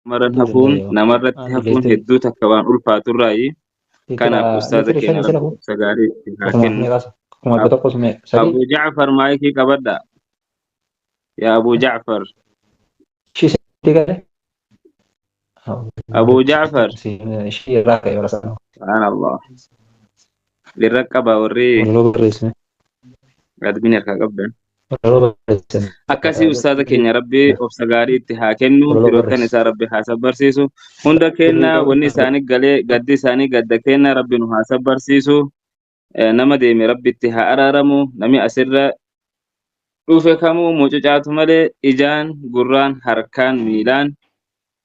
maran hafuun namarratti hafuun hedduu takka waan ulfaatu irraayi kanaaf ustaaza keenya rabbi obsa gaarii itti haa kennu abu jacfar maayikii qabadha yaa abu jacfar abu jacfar subhaanallah Dhirra qaba warri Walaloo barreessine. admin harkaa qabdan. Walaloo barreessine. Akkasii ustaaza keenya rabbi obsa gaarii itti haa kennu Walaloo firoottan barreessi. isaa rabbi haa sabbarsiisu hunda keenya wanni isaanii galee gaddi isaanii gadda keenya rabbi nu haa sabbarsiisu Eh, nama deeme rabbi itti haa araaramu nami asirra dhufe kamuu mucucaatu malee ijaan gurraan harkaan miilaan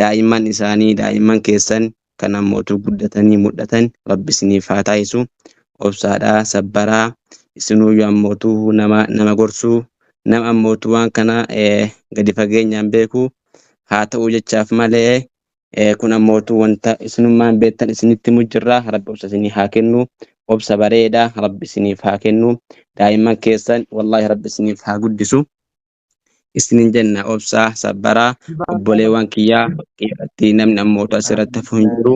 daa'imman isaanii daa'imman keessan kan ammootu guddatanii mul'atan rabbi isiniif haa taasisu obsaadhaa sabbaraa isinuuyyu ammootu nama nama gorsuu nama ammootu waan kana gadi fageenyaan beeku haa ta'uu jechaaf malee kun ammootu wanta isinummaan beektan isinitti mujjirraa rabbi obsa isinii haa kennu obsa bareeda rabbi isiniif haa kennu daa'imman keessan wallaahi rabbi isiniif haa guddisu isinin jenna obsaa sabbaraa obboleewwan kiyyaa irratti namni ammootu asirratti hafu hin jiru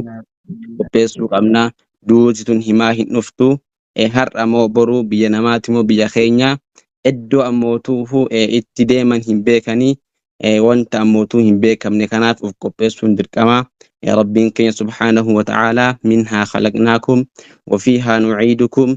qopheessuu qabna duuti tun himaa hin dhuftu eh, har'a moo boruu biyya namaati moo biyya keenya iddoo ammootuufu eh, itti deeman hin beekanii eh, wanta ammootuu hin beekamne kanaaf of qopheessuun dirqama eh, rabbiin keenya subhaanahu wa ta'aalaa minhaa khalaqnaakum wafiihaa nuciidukum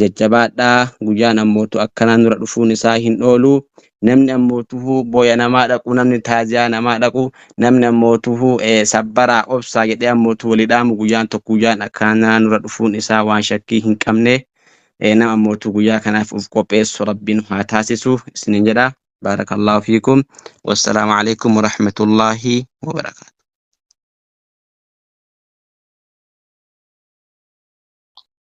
Jajjabaadhaa guyyaan ammootu akkanaa nura dhufuun isaa hin oolu. Namni ammootuhu booya namaa dhaqu, namni taaziyaa namaa dhaqu, namni ammootuhu sabbaraa obsaa jedhee ammootu walii dhaamu guyyaan tokko guyyaan akkanaa nura dhufuun isaa waan shakkii hin qabne. Nama ammootu guyyaa kanaaf of qopheessu rabbiin haa taasisu isiniin jedha. Baarakallaahu fiikum. Wassalaamu alaikum warahmatullaahi wabarakaatu.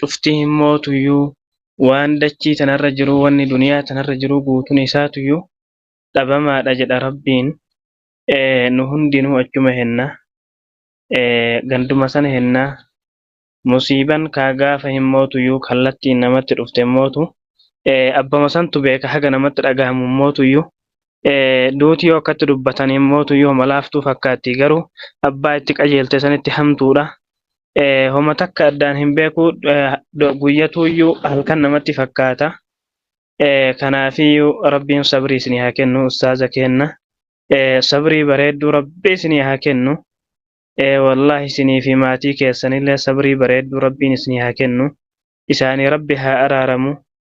cuftii hin mootuyyuu waan dachii tanarra jiruu wanni duniyaa tanarra jiruu guutun isaatuyyuu dhabamaadha jedha rabbiin nu hundinuu achuma henna ganduma sana henna musiiban kaa gaafa hin mootuyyuu kallattiin namatti dhufte hin mootu abbama santu beeka haga namatti dhagahamu hin mootuyyuu Duuti yoo akkatti dubbatan mootu yooma laaftuu fakkaatti garuu abbaa itti qajeelte sanitti hamtuudha. Homa takka addaan hin beeku guyyatuuyyuu halkan namatti fakkaata. Kanaafiyyuu rabbiin sabrii isinii haa kennu ustaaza keenna. Sabrii bareedduu rabbii isinii haa kennu. Wallaahi isinii fi maatii keessanillee sabrii bareedduu rabbiin isinii haa kennu. Isaanii rabbi haa araaramu.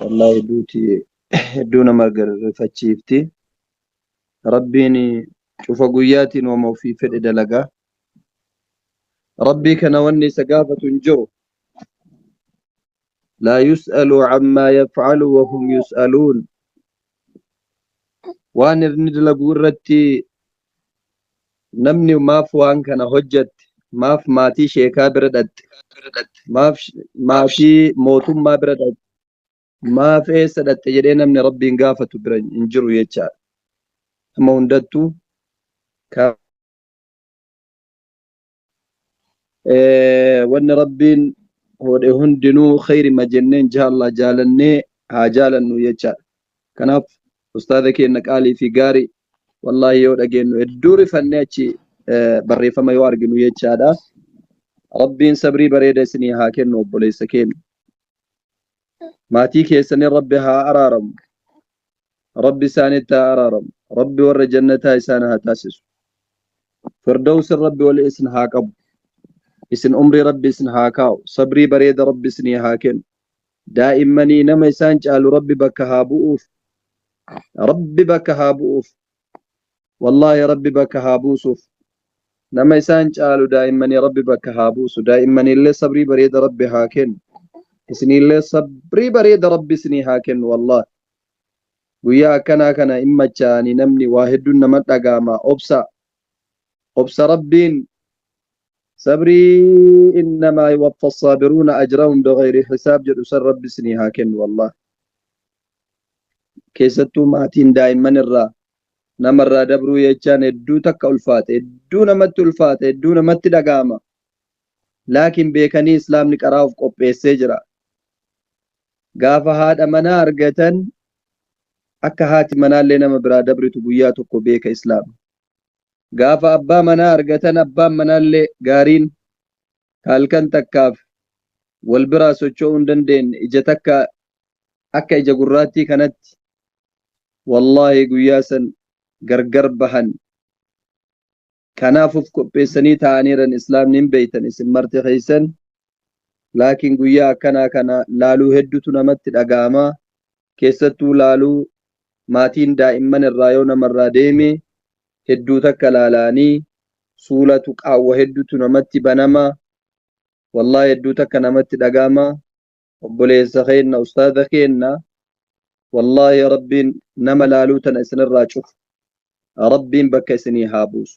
Wallaahi duuti hedduu nama rifachiifti. Rabbiin cufa guyyaatiin wama ofii fedhe dalaga. Rabbii kana wanni isa gaafatu hin jiru. Laa yus'alu ammaa yaf'alu wahum yus'aluun. waan inni dalagu irratti namni maaf waan kana hojjatte maaf maatii sheekaa bira dhaqxe maaf maatii mootummaa bira dhaqxe maaf eessa dhaqxe jedhee namni rabbiin gaafatu bira hin jiru jechaadha. Amma hundattuu wanni rabbiin hoodhe hundinuu khayrima jennee inshaallah jaalannee haa jaalannu jechaadha kanaaf ustaaza keenna qaalii fi gaari wallaahi yoo dhageennu hedduu rifannee achi barreeffama yoo arginu jechaadha rabbiin sabrii bareeda isinii haa kennu obboleessa keenya maatii keessanii rabbi haa araaramu rabbi isaanitti haa araaramu rabbi warra jannataa isaan haa taasisu firdawsin rabbi wal isin haa qabu isin umrii rabbi isin haa kaa'u sabrii bareeda rabbi isinii haa kennu daa'immanii nama isaan caalu rabbi bakka haa bu'uuf rabbi bakka haa bu'uuf Wallahi rabbi bakka haa buusuuf nama isaan caalu daa'immani rabbi bakka haa buusu daa'immaniillee sabrii bareeda rabbi haa kennu isiniillee sabrii bareeda rabbi isinii haa kennu wallahi guyyaa akkanaa kana in machaa'ani namni waa hedduun nama dhagaama obsa obsa rabbiin sabrii innamaa yuwaffa assaabiruuna ajrahum bighayri hisaab jedhu san rabbi isinii haa kennu wallahi keessattuu maatiin daa'imman irraa nama irraa dabruu jechaan hedduu takka ulfaata hedduu namatti ulfaata hedduu namatti dhaga'ama laakiin beekanii islaamni qaraa of qopheessee jira gaafa haadha manaa argatan akka haati manaallee nama biraa dabritu guyyaa tokko beeka islaama gaafa abbaa manaa argatan abbaan manaallee gaariin ka halkan takkaaf wal biraa socho'uu hin dandeenne ija takka akka ija gurraattii kanatti wallaahi guyyaa san gargar bahan kanaaf uf qopheessanii taa'aniiran islaamni hin beeytan isin marti keeysan laakiin guyyaa akkanaa kana laaluu heddutu namatti dhaga'amaa keessattuu laaluu maatiin daa'imman irraa yoo namarraa deeme hedduu takka laalaanii suulatu qaawwa heddutu namatti banama wallahi hedduu takka namatti dhagaama obboleessa keenna ustaaza keenna wallahi rabbiin nama laaluu tana isinirraa cufu rabbiin bakka isinii haa buusu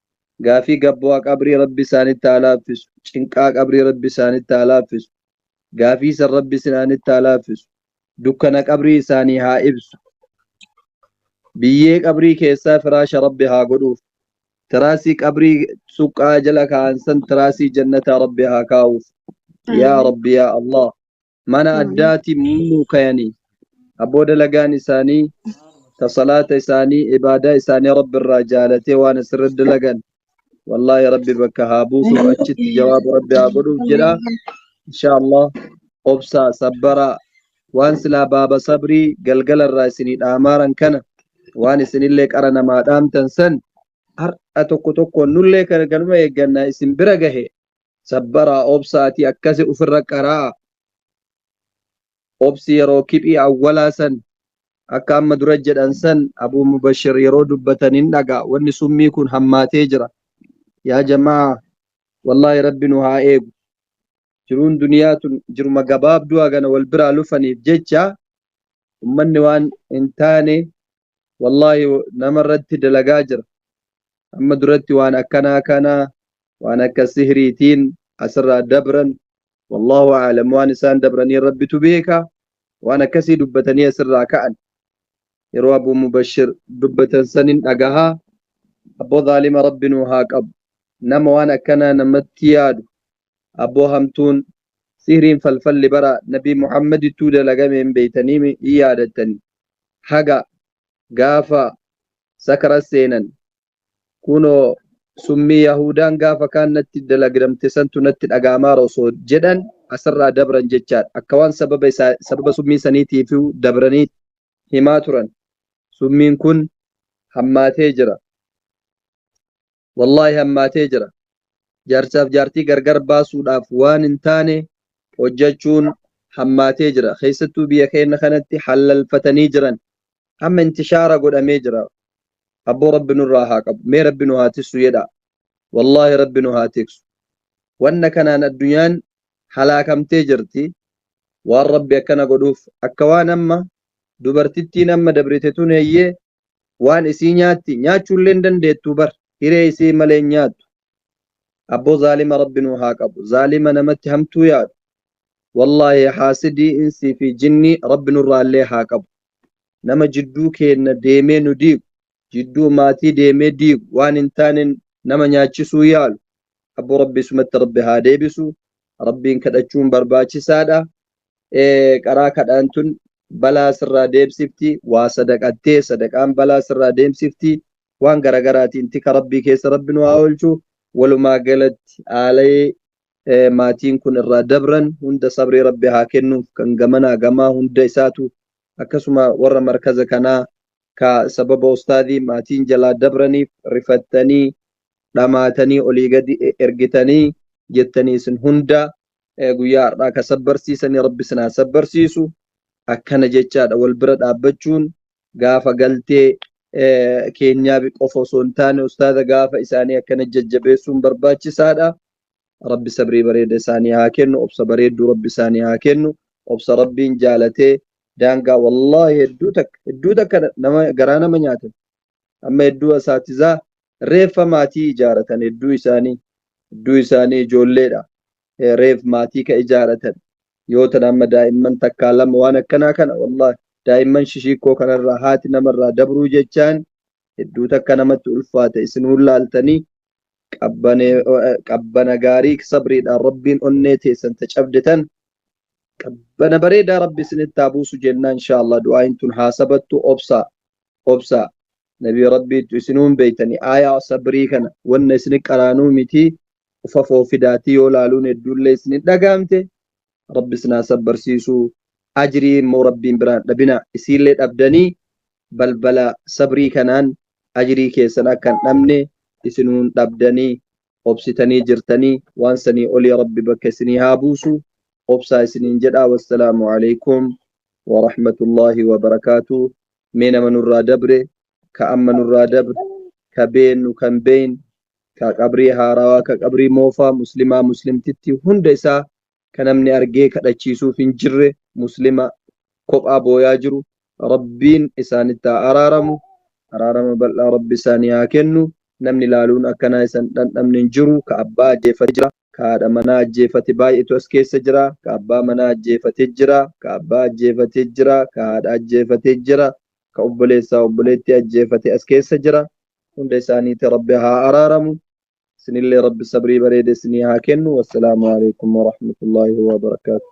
gaafii gabboa qabrii rabbi isaanitti haa laaffisu cinqaa qabrii rabbi isaanitti haa laaffisu gaafii san rabbi isinaanitti haa laaffisu dukkana qabrii isaanii haa ibsu biyyee qabrii keessaa firaasha rabbi haa godhuuf tiraasii qabrii suqqaa jala kaa'an san tiraasii jannataa rabbi haa kaa'uuf yaa rabbi yaa allah mana addaati muumuu kayanii abboo dalagaan isaanii ta salaata isaanii ibaadaa isaanii rabbi irraa jaalatee waan asirra dalagan wallaahi rabbi bakka haa buusuuf achitti jawaaba rabbi haa godhuuf jedha insha allah obsaa sabbaraa waan silaa baaba sabrii galgala irraa isinii dhaamaaran kana waan isinillee qara namaa dhaamtan san har'a tokko tokkoon nullee kan kanuma eeggannaa isin bira gahe Sabbaraa obsa ati akkasi ufirra qara'a obsi yeroo kiphii awwalaa san akka amma dura jedhan san abuu mubashir yeroo dubbatan hin dhaga wanni summii kun hammaatee jira yaa jamaa wallaahi rabbi nu haa eegu jiruun duniyaa tun jiruma gabaabduu hagana wal biraa lufaniif jecha ummanni waan hin taane wallahi nama irratti dalagaa jira amma duratti waan akkanaa kana waan akka sihriitiin asirraa dabran wallahu aalam waan isaan dabranii rabbitu beeka waan akkasii dubbatanii asirraa ka'an yeroo abuu mubashir dubbatan sanin dhagahaa abboo zaalima rabbi nuu haa qabu nama waan akkanaa namatti yaadu abboo hamtuun sihriin falfalli bara nabii muhammadittuu dalagame hin beeytaniimi hin yaadattani haga gaafa sakara seenan kunoo summii yahuudaan gaafa kaan natti dalagdamte santu natti dhaga'amaara osoo jedhan asirraa dabran jechaadha akka waan sababa isaa sababa summii saniitiifuu dabranii himaa turan summiin kun hammaatee jira Wallaahi hammaatee jira. Jaarsaaf jaartii gargar baasuudhaaf waan hin taane hojjachuun hammaatee jira. Keessattuu biyya keenna kanatti hallalfatanii jiran. Amma intishaara godhamee jira. Abboo Rabbi nurraa haa qabu. Mee Rabbi nu haa tissu jedhaa. Wallaahi Rabbi nu haa tiksu. Wanna kanaan addunyaan halaakamtee jirti. Waan Rabbi akkana godhuuf. Akka waan amma dubartittiin amma dabrite tun eeyyee waan isii nyaatti nyaachuullee hin dandeettu bar hiree isii malee hin nyaattu abboo zaalima rabbi nuu haa qabu zaalima namatti hamtuu yaadu wallaahi haasidii insii fi jinnii rabbi nurraallee haa qabu nama jidduu keenna deemee nu diigu jidduu maatii deemee diigu waan hin taane nama nyaachisuu yaalu abboo rabbi isumatti rabbi haa deebisu rabbiin kadhachuun barbaachisaadha ee, qaraa kadhaan tun balaa sirraa deebsifti waa sadaqattee sadaqaan balaa sirraa deemsifti waan garagaraatiin tika rabbii keessa rabbi nu haa oolchu walumaa galatti aalayee ee, maatiin kun irraa dabran hunda sabrii rabbi haa kennuuf kan gamanaa gamaa hunda isaatu akkasuma warra markaza kanaa ka sababa ustaadii maatiin jalaa dabraniif rifattanii dhamaatanii olii gadi e- ergitanii jettanii isin hunda guyyaa har'aa ka sabbarsiisanii rabbi isin haa sabbarsiisu akkana jechaadha wal bira dhaabbachuun gaafa galtee keenyaa qofa osoo hin taane ustaaza gaafa isaanii akkana jajjabeessuun barbaachisaadha rabbi sabrii bareeda isaanii haa kennu obsa bareedduu rabbi isaanii haa kennu obsa rabbiin jaalatee daangaa wallaahi hedduu takka hedduu takka nama garaa nama nyaate amma hedduu asaatizaa reeffa maatii ijaaratan hedduu isaanii hedduu isaanii ijoolleedha reef maatii ka ijaaratan yoo tan amma daa'imman takkaa lama waan akkanaa kana wallahi daa'imman shishiikkoo kanarraa haati namarraa dabruu jechaan hedduu takka namatti ulfaata isin hullaaltanii qabbane qabbana gaarii sabriidhaan rabbiin onnee teessan ta cabde tan qabbana bareedaa rabbi isinitti haa buusu jennaa inshaa allah du'aayin tun haa sabattu obsaa obsaa nabii rabbiittu isinuun beeytani aayaa sabrii kana wanna isini qaraanuu mitii ufafoo fidaatii yoo laaluun hedduullee isini dhagaamte rabbi isin haa sabbarsiisuu ajrii immoo rabbiin biraa hin dhabina isiillee dhabdanii balbala sabrii kanaan ajrii keessan akka hin dhabne isinuu hin dhabdanii obsitanii jirtanii waan sanii olii rabbi bakka isinii haa buusu obsaa isiniin jedhaa wassalaamu alaikum warahmatullaahi wabarakaatu mee nama nurraa dabre ka amma nurraa dabre ka beennu kan beeyne ka qabrii haarawaa ka qabrii moofaa muslimaa muslimtitti hunda isaa ka namni argee kadhachiisuuf hin jirre muslima kophaa booyaa jiru rabbiin isaanitti haa araaramu araarama bal'aa rabbi isaanii haa kennu namni laaluun akkanaa isan dhandhamne hin jiru ka abbaa ajjeeffatee jira Ka haadha manaa ajjeefate baay'etu as keessa jira. Ka abbaa manaa ajjeefate jira. Ka abbaa ajjeefate jira. Ka haadha ajjeefate jira. Ka obboleessaa obboleettii ajjeefate as keessa jira. Hunda isaaniiti Rabbi haa araaramu. Isinillee Rabbi sabrii bareeda isinii haa kennu. Wassalaamu alaikum warahmatullaahi wabarakaatuh.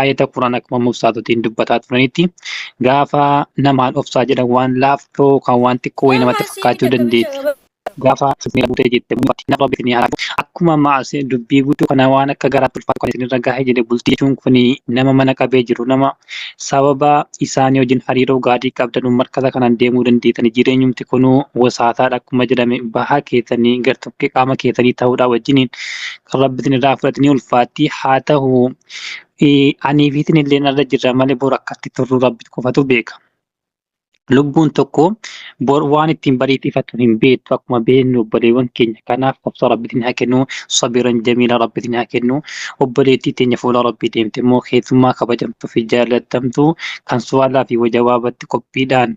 ayata Quraan akkuma mubsaatotiin dubbataa turanitti gaafa namaan obsaa jedhan waan laaftoo kan waan xiqqoo wayii namatti fakkaachuu dandeetti. Gaafa sirni buutee jette nama bitni haa akkuma maas dubbii guutuu kana waan akka garaatti ulfaatu kan isinirra gahe jedhe bultii jechuun kun nama mana qabee jiru nama sababa isaanii wajjin hariiroo gaarii qabdan markaza kanaan deemuu dandeettani jireenyumti kunuu wasaataadha akkuma jedhame bahaa keessanii gartokkee qaama keessanii ta'uudhaa wajjiniin kan rabbitin irraa fudhate ni ulfaatti haa ta'u anii fi isin illee narra jirra malee bor akkatti turru rabbi qofatu beeka. Lubbuun tokko bor waan ittiin bariitti ifatu hin beektu akkuma beeknu obboleewwan keenya kanaaf obsa rabbitiin haa kennu sabiran jamiila rabbitiin haa kennu obboleettii teenya fuula rabbii deemte immoo keessummaa kabajamtuu fi jaallatamtu kan su'aalaa fi wajawaabatti qophiidhaan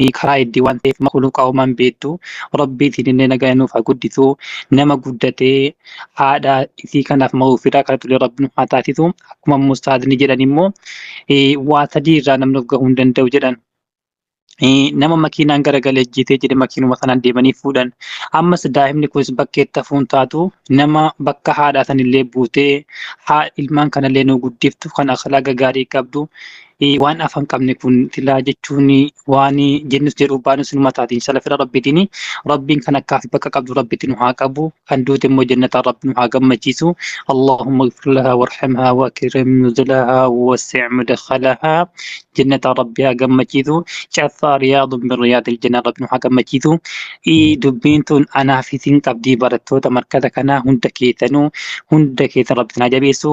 hii karaa iddii waan ta'eef makuluuqa homaan beektu rabbii siinillee nagaa nuuf haa guddisu nama guddatee haadha isii kanaaf ma'uu firaa kadhatulee rabbi nu haa taasisu akkuma immoo ustaazni jedhan immoo eh, waa sadii irraa namni of gahuu hin danda'u jedhan Eh, nama makiinaan garagalee ajjeesee jedhe makiinuma sanaan deemanii fuudhan ammas daa'imni kunis bakkeetti hafuun taatu nama bakka haadhaa sanillee buutee haa ilmaan kanallee nu guddiftu kan akhlaaqa gaarii qabdu waan afan qabne kun tilaa jechuun waan jennus jedhu baanus nu mataatiin salafira rabbitiin rabbiin kan akkaaf bakka qabdu rabbitti nu haa qabu kan duute immoo jannataa rabbi nu haa gammachiisu allahumma ighfir lahaa warhamhaa wa akrim nuzulahaa wa wasi' mudkhalahaa jannataa rabbi haa gammachiisu caffaa riyaadun min riyaadil jannaa rabbi nu haa gammachiisu dubbiin tun anaaf isin qabdii barattoota markaza kanaa hunda keessanuu hunda keessan rabbi isin haa jabeessu